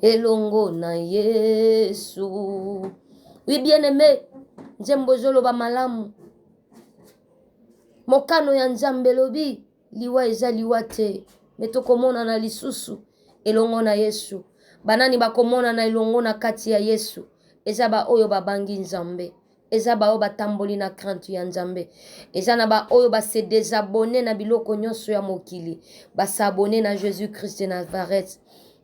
elongo na yesu wi bien aime nzembo ezoloba malamu mokano ya nzambe elobi liwa eza liwa te me tokomonana lisusu elongo na yesu banani bakomonana elongo na kati ya yesu eza baoyo babangi nzambe eza baoyo batamboli na krante ya nzambe eza na baoyo base desabone na biloko nyonso ya mokili basabone na jésus christ de nazareth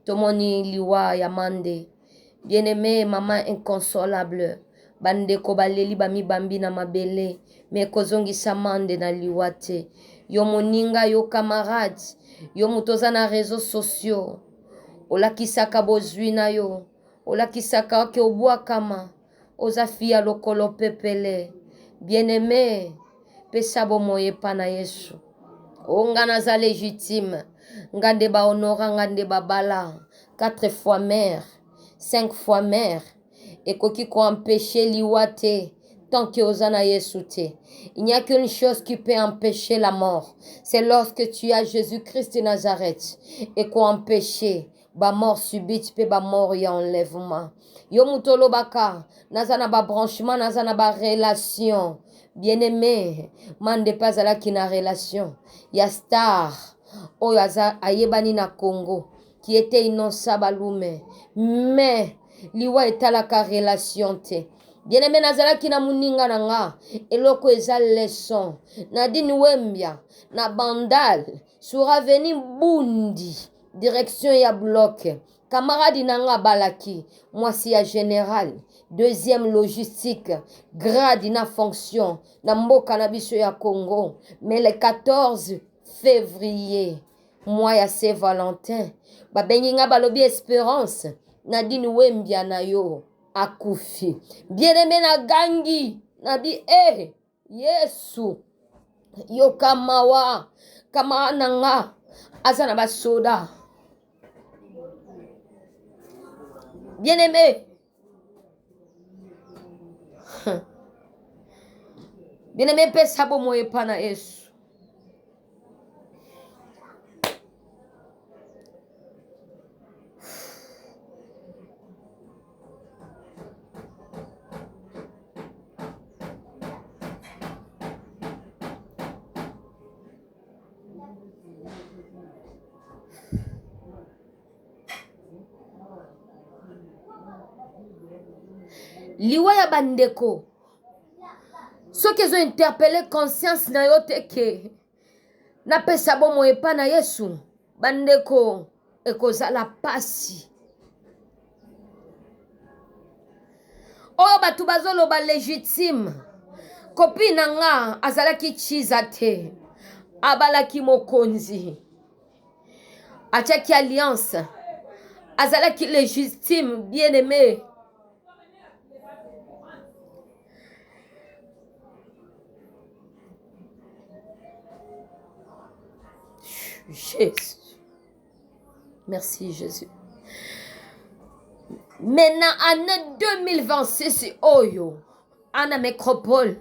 tomoni liwa ya mande bien aime mama inconsolable bandeko baleli bamibambi na mabele me kozongisa mande na liwa te yo moninga yo camarade yo moto oza na réseau sociaux olakisaka bozwi na yo olakisaka ke obwakama Oza fia lokolo pepele. Bien aime pesa bomoyi epa na yesu. O nga naza legitime. Nga nde ba honora nga nde ba bala. Quatre fois mère. Cinq fois mère. Ekoki ko empecher liwa te. Tant que oza na yesu te. Il n'y a qu'une chose qui peut empecher la mort. C'est lorsque tu as Jésus-Christ de Nazareth. Eko empecher. ba mort subite pe ba mort ya enlèvement yo moto olobaka naza na ba branchement naza na ba relation bien aimé mande pe azalaki na relation ya star oyo aza ayebani na congo qui était innonsa balume mais liwa etalaka relation te bien aimé nazalaki na moninga na nga eloko eza leçon nadine wembia na bandal sur avenue bundi direction ya bloc kamaradi na nga abalaki mwasi ya general deuxième logistique grade na fonction na mboka na biso ya congo mais le 14 février mwa ya se valentin babengi nga balobi esperance nadine wembia na yo akufi bien aime na gangi nabi eh Yesu, yoka mawa, kama na nga aza na basoda. Bien aimé, bien aimé, pesa bomoi epa na Yesu. liwa ya bandeko soki ezo interpele conscience na yo te ke napesa bomoi epai na yesu bandeko ekozala mpasi oyo bato bazoloba legitime kopi na nga azalaki chiza te abalaki mokonzi atiaki alliance azalaki légitime bien aimé Jesus. Merci Jésus. Maintenant, année 2026, Oyo, à la métropole,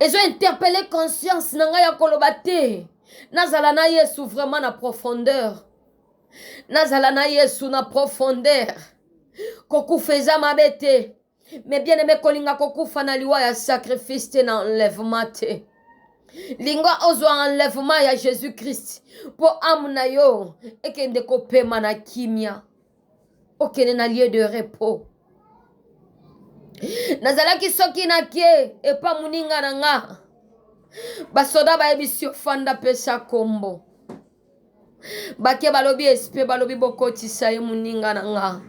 ezo interpele conscience na ngai ya koloba te nazala na yesu vraiment na profondeur nazala na yesu na profondeur kokufa eza mabe te me bien aime kolinga kokufa na liwa ya sacrifice te na enlèvement te linga ozwa enlèvement ya jésus christ mpo ame na yo ekende kopema na kimia okende na lieu de repos nazalaki soki nake epa moninga na nga basoda bayebisi yo fanda pesa kombo bake balobi espe balobi bokotisa ye moninga na nga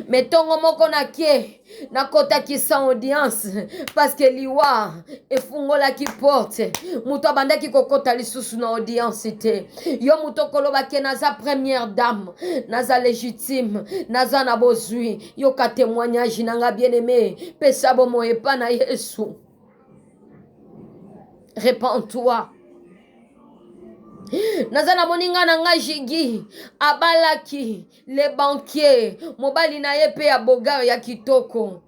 me ntongo moko nake nakotakisa audience parceke liwa efungolaki porte moto abandaki kokota lisusu na audience te yo moto okoloba ke naza première dame naza légitime naza na bozwi yoka témoignage na nga bien aimé pesa bomo epa na yesu repends-toi naza na moninga na ngai jigi abalaki le banquier mobali na ye mpe ya bogar ya kitoko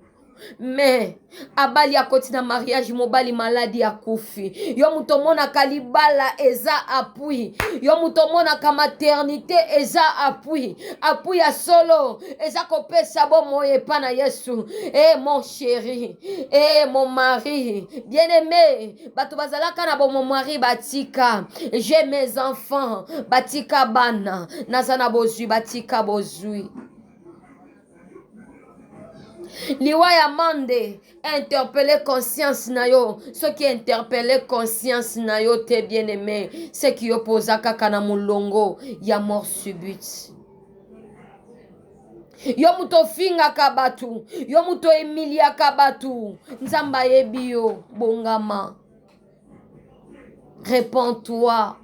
me abali akoti na mariage mobali maladi akufi yo moto omonaka libala eza apui yo moto omonaka maternité eza apui apui ya solo eza kopesa bomoi epa na yesu e mon chéri e mon mari bien aimé bato bazalaka na bomomwari batika je mes enfants batika bana naza na bozwi batika bozwi liwa ya mande interpele conscience na yo soki interpele conscience na yo te bien aime seki yo mpo oza kaka na molongo ya mort subite yo moto ofingaka bato yo moto oemiliaka bato nzambe ayebi yo bongama repentoi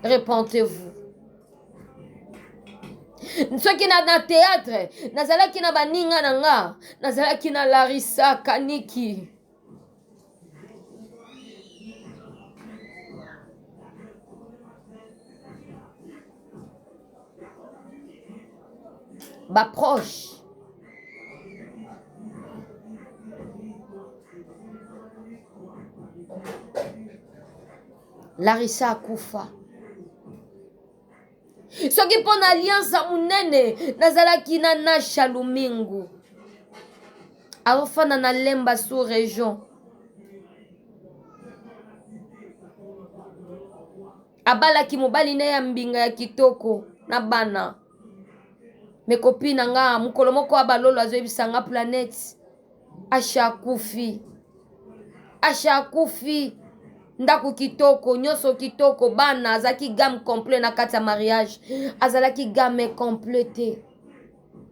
repentez-vous soki na, na théâtre nazalaki na baninga na nga nazalaki na larisa kaniki baproche larisa akufa soki mpo na alliance ya monene nazalaki na nasha lumingu aofanda na lemba sous région abalaki mobali na ya mbinga ya kitoko na bana mekopi na nga mokolo moko abalolo azoyebisa nga planete Asha akufi. Asha akufi. Ndako kitoko, nyonso kitoko, bana azalaki gamme complet na kati ya mariage. Azalaki gamme complet te.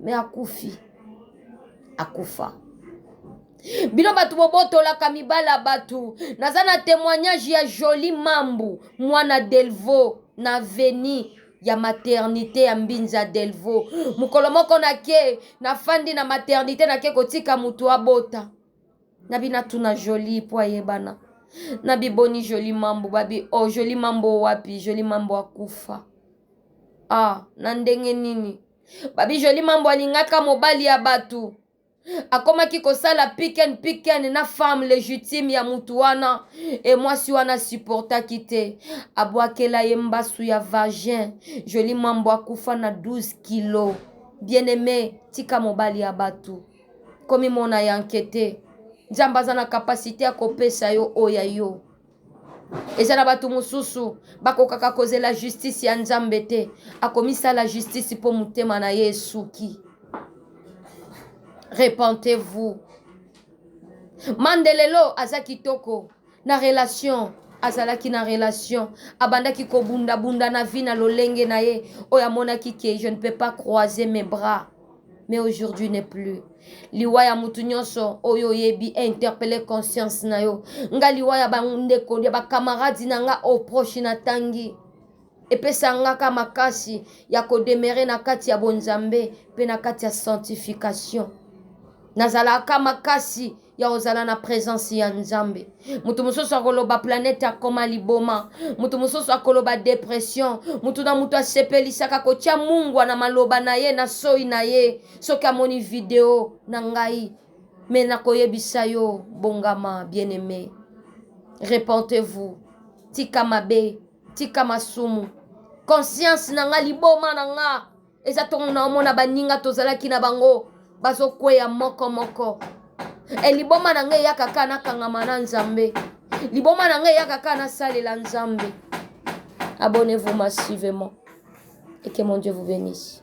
Mais akufi. Akufa. bino bato bobotolaka mibali ya bato naza na témoignage ya joli mambu mwana delvo na veni ya maternité ya mbinza delvo mokolo moko nake nafandi na maternité nake kotika motu abota na binatuna jolie mpo ayebana na biboni jolie mambo babi o oh, jolie mambo wapi jolie mambo akufa ah na ndenge nini babi jolie mambo alingaka mobali ya bato akomaki kosala piken piken na femme legitime ya mutu wana e mwasi wana supportaki te abwakela ye mbasu ya vagin joli mambo akufa na 12 kilo bien aime tika mobali ya batu komimona yanke te nzambe aza na kapasite ya kopesa yo oyo ya yo eza na bato mosusu bakokaka kozela justice ya nzambe te akomisala justice mpo motema na ye esuki repentez-vous mandelelo aza kitoko na relation azalaki na relation abandaki kobundabunda na vie na lolenge na ye oyo amonaki ke je ne peux pas croiser mes bras mais aujourd'hui n'est plus liwa ya mutu nyonso oyo oyebi interpelle conscience na yo nga liwa ya bandeko ya bakamaradi na nga au proche natangi epesa ngaka makasi ya kodemere na kati ya bonzambe mpe na kati ya sanctification nazalaka makasi ya ozala na presence ya nzambe moto mosusu akoloba planete akoma liboma moto mosusu akoloba depression moto na moto asepelisaka kotya mungwa na maloba na ye na soi na ye soki amoni video na ngai me nakoyebisa yo bongama bien aime repentez-vous tika mabe tika masumu conscience na nga liboma na nga eza ntongo na omona baninga tozalaki na bango bazokweya moko moko e liboma na ngai eyaka kaka nakangama na nzambe liboma na ngai eyaka kaka nasalela nzambe abonnez-vous massivement et que mon dieu vous bénisse